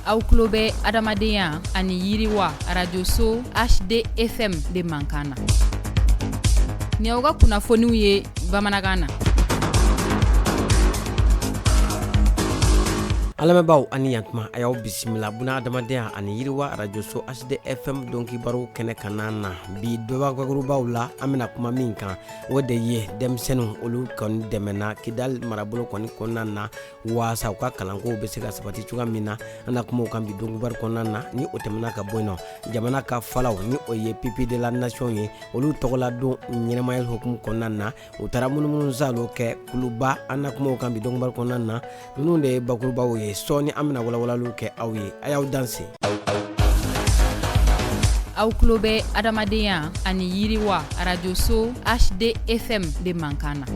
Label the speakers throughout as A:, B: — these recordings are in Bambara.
A: aw tulo bɛ adamadenya ani yiriwa arajoso hdfm de mankan na ni aw ka kunnafoniw ye bamanankan na
B: an lamɛnbaaw ani yantuma a y'aw bisimila bunadamadenya ani yiriwa arajoso hdfm donkibaru kɛnɛ kanna na bi don bakurubaw la an bɛna kuma min kan o de ye denmisɛnninw olu kɔni dɛmɛna kidali marabolo kɔni kɔnɔna na waasa u ka kalanko bɛ se ka sabati cogoya min na an na kuma o kan bi donkibaru kɔnɔna na ni o tɛmɛna ka bɔ yen nɔ jamana ka falaw ni o ye pupilles de la nation ye olu tɔgɔladon ɲɛnɛmaya hukumu kɔnɔna na u taara munumunusaalo kɛ kuluba an na kuma o kan bi donkibaru kɔnɔna na ninnu de ye bakurubaw ye sɔɔni an bɛna walawalaliw kɛ aw ye a y'aw
A: danse aw tulo bɛ adamadenya ani yiriwa arajoso hdfm de mankan na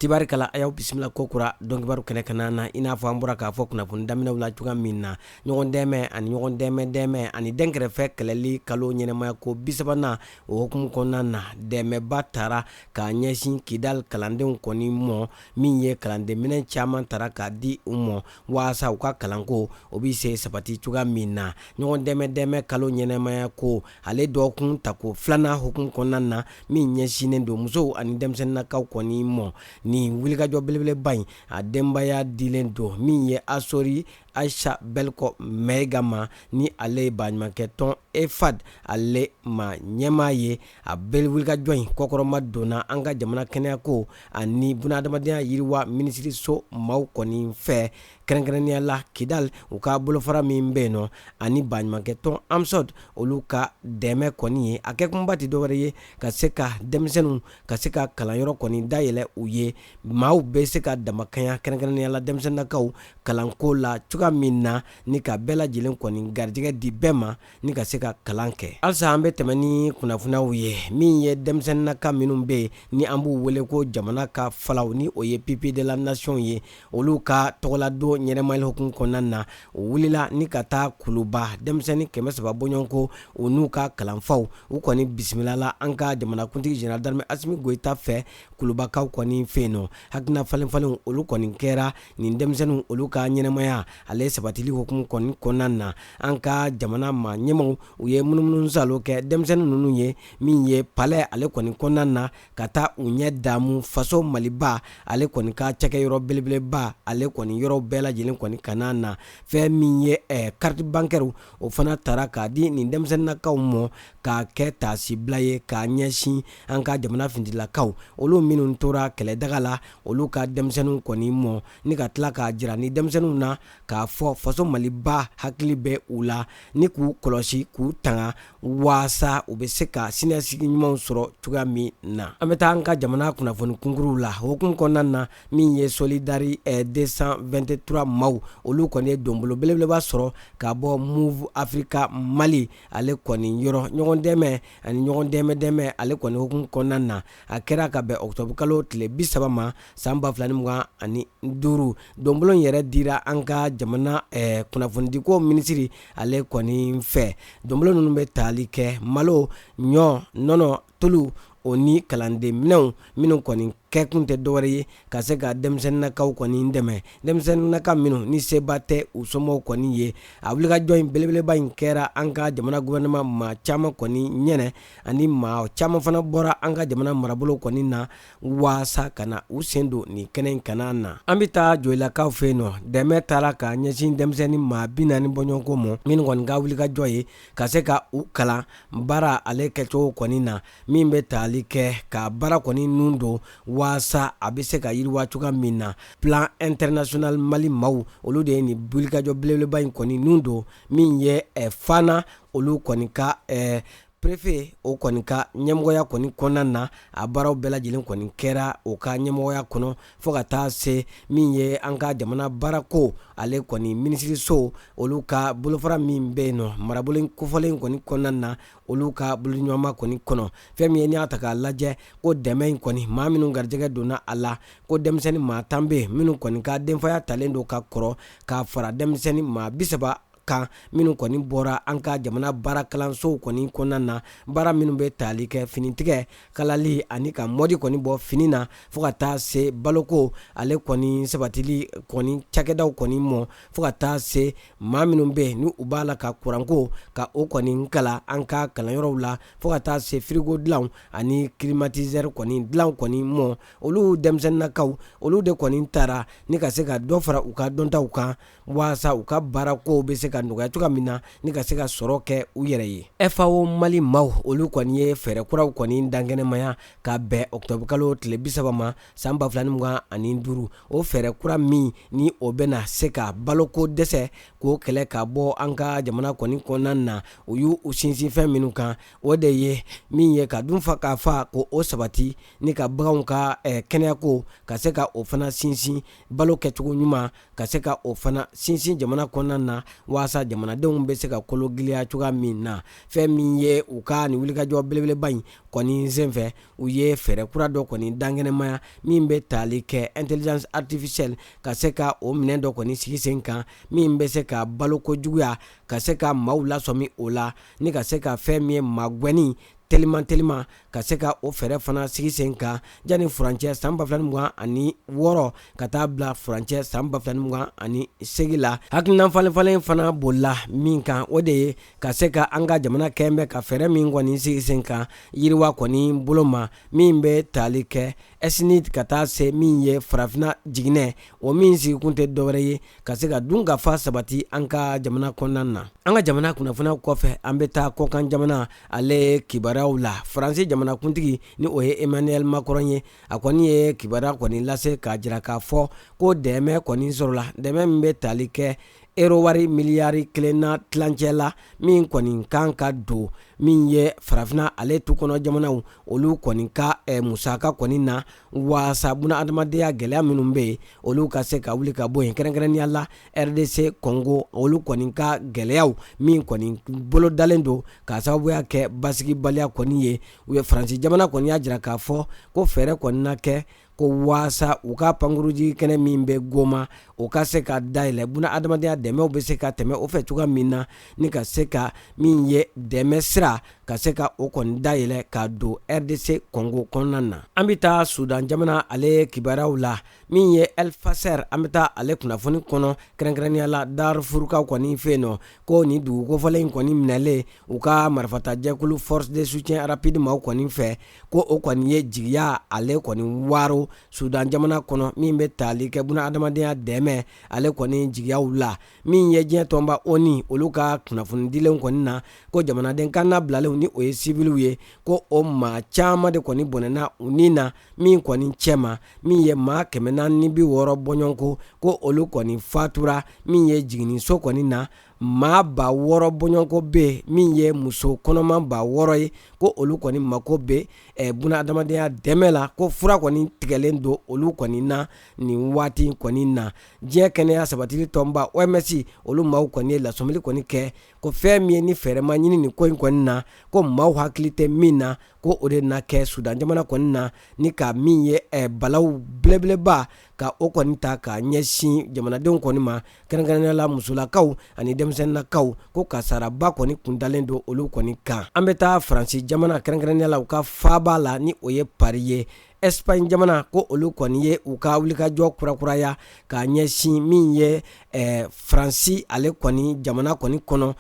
A: tibarikala
B: a y'aw bisimila kokura donkibaru kɛnɛ kanna na i n'a fɔ an bɔra k'a fɔ kunnafoni daminɛw la cogoya min na ɲɔgɔn dɛmɛ ani ɲɔgɔn dɛmɛ dɛmɛ ani dɛnkɛrɛfɛ kɛlɛli kalo ɲɛnɛmaya ko bisabanan o hukumu kɔnɔna na dɛmɛba taara k'a ɲɛsin kidali kalandenw kɔni mɔ min ye kalandenminɛn caman taara k'a di u mɔ waasa u ka kalanko o bɛ se sabati cogoya min na ɲɔgɔn dɛmɛ dɛmɛ kalo ɲɛnɛmaya ko ale dɔgɔkun tako filanan hukumu kɔnɔna na min ɲɛsinnen don musow ani denmisɛnninakaw kɔni mɔ nin wulikajɔ belebeleba in a denbaya dilen don min ye asori ayisa bɛlikɔ mayiga ma ni ale ye baɲumankɛ tɔn efad ale ma ɲɛmaa ye a bɛɛ wulikajɔ in kɔkɔrɔma donna an ka jamana kɛnɛyako ani bunadamadenya yiriwa minisiriso maaw kɔni fɛ kɛrɛnkɛrɛnnenya la kidali u ka bolofara min bɛ yen nɔ ani baɲumankɛ tɔn amsod olu ka dɛmɛ kɔni ye a kɛkunba tɛ dɔwɛrɛ ye ka se ka denmisɛnninw ka se ka kalanyɔrɔ kɔni dayɛlɛ u ye maaw bɛ se ka damakanya kɛrɛnkɛrɛnnenya la denmisɛnninakaw kalanko la cogoya min na ni ka bɛɛ lajɛlen kɔni garijɛgɛ di bɛɛ ma ni ka se ka kalan kɛ halisa an bɛ tɛmɛ ni kunnafoniw ye min ye denmisɛnninaka minnu bɛ yen ni an b'u wele ko jamana ka falaw ni o ye pupilles de la nation ye olu ka tɔgɔladon ɲɛnɛmayali hukumu kɔnɔna na o wulila ni ka taa kuluba denmisɛnnin kɛmɛ saba bɔɲɔgɔnko u n'u ka kalanfaw u kɔni bisimilala an ka jamanakuntigi général d'armée asimi goyita fɛ kulubakaw kɔni fɛ yen nɔ hakilina falenfalenw olu kɔni kɛra nin denmisɛnninw olu ka ɲɛnɛmaya ale sabatili hukumu kɔni kɔnɔna na an ka jamana ma ɲɛmaaw u ye munumunusaalo kɛ denmisɛnnin ninnu ye min ye palɛ ale kɔni kɔnɔna na ka taa u ɲɛ damu faso maliba ale kɔni ka cakɛyɔrɔ belebeleba ale kɔni yɔrɔ bɛɛ lajɛlen kɔni kanna na fɛn min ye eh, carte bancaire o fana taara k'a di nin denmisɛnninakaw mɔ k'a kɛ taasibila ye k'a ɲɛsin an ka jamana fintilakaw olu minnu tora kɛlɛdaga la olu ka denmisɛnninw kɔni mɔ ni ka tila k'a jira nin denmisɛnninw na k'a fɔ faso maliba hakili bɛ u la ni k'u kɔlɔsi k'u tanga waasa u bɛ se ka siniɲɛsigi ɲumanw sɔrɔ cogoya min na an bɛ taa an ka jamana kunnafoni kunkuruw la hukumu kɔnɔna na min ye solidari 223 eh, maaw olu kɔni ye donbolo belebeleba sɔrɔ ka bɔ moov africa mali ale kɔni yɔrɔ ɲɔgɔn dɛmɛ ani ɲɔgɔn dɛmɛ dɛmɛ ale kɔni hukumu kɔnɔna na a kɛra ka bɛn ɔkutɔburukalo tile bi saba ma san ba fila ni mugan ani duuru donbolo yɛrɛ dira an ka jamana kunnafonidiko minisiri ale kɔni fɛ donbolo ninnu bɛ tali kɛ malo ɲɔ nɔnɔ tulu o ni kalandenminɛnw minnu kɔni kɛkun tɛ dɔwɛrɛ ye ka se ka denmisɛnninnakaw kɔni dɛmɛ denmisɛnninnaka minnu ni seba tɛ u somɔgɔw kɔni ye a wulikajɔ in belebeleba in kɛra an ka jamana gɔfɛrɛnaman maa caman kɔni ɲɛ ani maa caman fana bɔra an ka jamana marabolo kɔni na waasa ka na u sen don nin kɛnɛ in kana na an bɛ taa joyilakaw fɛ yen nɔ dɛmɛ taara ka ɲɛsin denmisɛnnin maa bi naani bɔɲɔgɔnko mɔ minnu kɔni ka wulikajɔ ye ka se ka u kalan baara ale kɛcogo kɔni na min bɛ tali kɛ ka baara kɔni nun don waasa a bɛ se ka yiriwa cogoya min na plan international mali maaw olu de ye nin wulikajɔ belebeleba in kɔni nun don min ye eh, fana olu kɔni ka ɛɛ prefe o kɔni ka ɲɛmɔgɔya kɔni kɔnɔna na a baaraw bɛɛ lajɛlen kɔni kɛra o ka ɲɛmɔgɔya kɔnɔ fɔɔ ka taa se min ye an ka jamana baarako ale kɔni minisiriso olu ka bolofara min bɛ yen nɔ marabolo kofɔlen kɔni kɔnɔna na olu ka boloɲɔgɔnma kɔni kɔnɔ fɛn min ye n'i y'a ta k'a lajɛ ko dɛmɛ in kɔni maa minnu garijɛgɛ donna a la ko denmisɛnnin maa tan bɛ minnu kɔni ka denfaya talen don ka kɔrɔ k'a fara denmisɛnnin maa bisaba kan minnu kɔni bɔra an ka jamana baara kalansow kɔni kɔnɔna na baara minnu bɛ tali kɛ finitigɛ kalali ani ka mɔdi kɔni bɔ fini na fɔɔ ka taa se baloko ale kɔni sabatili kɔni cakɛdaw kɔni mɔ fɔɔ ka taa se maa minnu bɛ yen ni u b'a la ka kuranko ka o kɔni kalan an ka kalanyɔrɔw la fɔɔ ka taa se firigo dilanw ani kilimatizɛri kɔni dilanw kɔni mɔ olu denmisɛnninakaw olu de kɔni tara ni ka se ka dɔ fara u ka dɔntaw kan waasa u ka baarakow bɛ se ka nɔgɔya cogoya min na ni ka se ka sɔrɔ kɛ u yɛrɛ ye fao mali maaw olu kɔni ye fɛɛrɛ kuraw kɔni dankɛnɛmaya ka bɛn ɔkutɔburukalo tile bisaba ma san ba fila ni mugan ani duuru o fɛɛrɛ kura min ni o bɛna se ka baloko dɛsɛ k'o kɛlɛ ka bɔ an ka jamana kɔni kɔnɔna na u y'u sinsin fɛn minnu kan o de ye min ye ka dun fa ka fa ko o sabati ni ka baganw ka kɛnɛyako ka se ka o fana sinsin balo kɛcogo ɲuman ka se ka o fana sinsin jamana kɔnɔna na walasa jamanadenw bɛ se ka kologiliya cogoya min na fɛn min ye u ka nin wulikajɔ belebeleba in kɔni senfɛ u ye fɛɛrɛ kura dɔ kɔni dankɛnɛmaya min bɛ taali kɛ intelligence artificielle ka se ka o minɛn dɔ kɔni sigi sen kan min bɛ se ka baloko juguya ka se ka maaw lasɔmi o la ni ka se ka fɛn min ye magwɛnni teliman teliman ka se ka o fɛɛrɛ fana sigi sen kan yanni furancɛ san 2020 ani wɔɔrɔ ka taa bila furancɛ san 2020 ani segi la hakilinan falenfalen fana bolila min kan o de ye ka se ka an ka jamana kɛlen bɛ ka fɛɛrɛ min kɔni sigi sen kan yiriwa kɔni bolo ma min bɛ tali kɛ SNEDD ka taa se min ye farafinna jiginɛ o min sigikun tɛ dɔwɛrɛ ye ka se ka dunkafa sabati an ka jamana kɔnɔna na an ka jamana kunnafoniw kɔfɛ an bɛ taa kɔkan jamana ale kibaruyaw la faransi jamanakuntigi ni o ye emmanuel macron ye a kɔni ye kibaruya kɔni lase k'a jira k'a fɔ ko dɛmɛ kɔni sɔrɔla dɛmɛ min bɛ tali kɛ ero wari miliyari kelen n'a tilancɛ la min kɔni kan ka don min ye farafina ale tu kɔnɔ jamanaw olu kɔni ka eh, musaka kɔni na waasa buna adamadenya gɛlɛya minnu bɛ yen olu ka se ka wuli ka bɔ yen kɛrɛnkɛrɛnnenya la rdc kɔngo olu kɔni ka gɛlɛyaw min kɔni bolo dalen don ka sababuya kɛ basigibaliya kɔni ye u ye faransi jamana kɔni y'a jira k'a fɔ ko fɛɛrɛ kɔni na kɛ ko waasa u ka pankurunjigi kɛnɛ min bɛ goma o ka se ka dayɛlɛ buna adamadenya dɛmɛw bɛ se ka tɛmɛ o fɛ cogoya min na ni ka se ka min ye dɛmɛ sira ka se ka o kɔni dayɛlɛ ka don rdc kɔngo kɔnɔna na an bɛ taa sudan jamana ale kibaruyaw la min ye elfasɛr an bɛ taa ale kunnafoni kɔnɔ kɛrɛnkɛrɛnnenya la darfurukaw kɔni fɛ yen nɔ ko nin dugukofɔlen in kɔni minɛlen u ka marifatajɛkulu force de soutien rapide maaw kɔni fɛ ko o kɔni ye jigiya ale kɔni waro sudan jamana kɔnɔ min bɛ taali kɛ buna adamadenya dɛmɛ ale kɔni jigiyaw la min ye diɲɛ tɔnba onu olu ka kunnafoni dilenw kɔni na ko jamanaden kan na bilalenw ni o ye sibiliw ye ko o maa caman de kɔni bɔnɛna u ni na min kɔni cɛma min ye maa kɛmɛ naani ni bi wɔɔrɔ bɔɲɔgɔnko ko olu kɔni fatura min ye jiginniso kɔni na maa ba wɔɔrɔ bɔɲɔgɔnko bɛ min ye muso kɔnɔma ba wɔɔrɔ ye ko olu kɔni mako bɛ buna adamadenya dɛmɛ la ko fura kɔni tigɛlen don olu kɔni na nin waati kɔni na diɲɛ kɛnɛya sabatili tɔnba oms olu maaw kɔni ye lasɔmili kɔni kɛ ko fɛn min ye ni fɛɛrɛ ma ɲini nin ko in kɔni na ko maaw hakili tɛ min na ko o de na kɛ sudan jamana kɔni na ni ka min ye balawu belebeleba ka o kɔni ta ka ɲɛsin jamanadenw kɔni ma kɛrɛnkɛrɛnnenya la musolakaw ani denmisɛnninlakaw ko kasaraba kɔni kundalen don olu kɔni kan an bɛ taa faransi jamana kɛrɛnkɛrɛnnenya la u ka faaba la ni o ye pari ye espaɲi jamana ko olu kɔni ye u ka wulikajɔ kurakuraya ka ɲɛsin min ye eh, faransi ale kɔni jamana kɔni kɔnɔ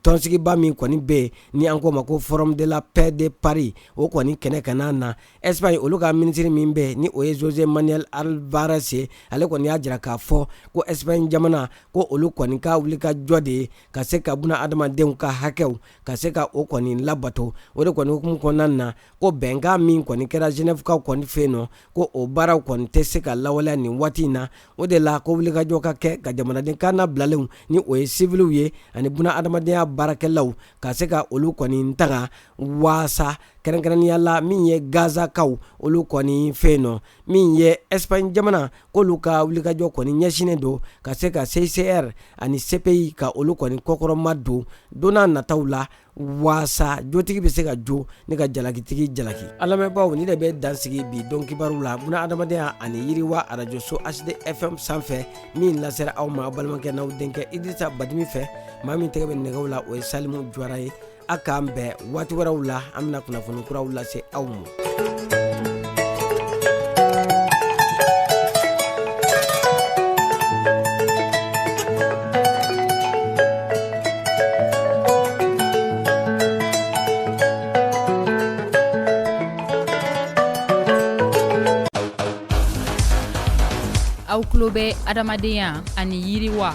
B: tɔnsigiba min kɔni bɛ yen ni an k'o ma ko forum de la paix de paris o kɔni kɛnɛ kan na Espaɲi olu ka minisiriri min bɛ yen ni o ye josé manuel albares ye ale kɔni y'a jira k'a fɔ ko espaɲi jamana ko olu kɔni ka wulikajɔ de ye ka se ka buna adamadenw ka hakɛw ka se ka o kɔni labato o de kɔni hukumu kɔnɔna na ko bɛnkan min kɔni kɛra zenɛvukaw kɔni fɛ yen nɔ ko o baaraw kɔni tɛ se ka lawaleya nin waati in na o de la ko wulikajɔ ka kɛ ka jamanaden kannabilalenw ni o ye siviliw ye ani buna adamadenya baarakɛlaw ka se ka olu kɔni tanga waasa kɛrɛnkɛrɛnnenya la min ye gazakaw olu kɔni fɛ yen nɔ min ye espaɲi jamana k'olu ka wulikajɔ kɔni ɲɛsinnen don ka se ka CICR ani CPI ka olu kɔni kɔkɔrɔmadon don nataw la waasa jotigi bɛ se ka jo ni ka jalakitigi jalaki a lamɛnbaaw nin de bɛ dansigi bi don kibaru la buna adamadenya ani yiriwa arajoso HD FM sanfɛ min lasera aw ma balimakɛ n'aw denkɛ idrisa badimi fɛ maa min tɛgɛ bɛ nɛgɛw la o ye salimu juwara ye A k'an bɛn waati wɛrɛw la an bɛna kunnafoni kuraw lase aw ma
A: aw tulo bɛ adamadenya ani yiriwa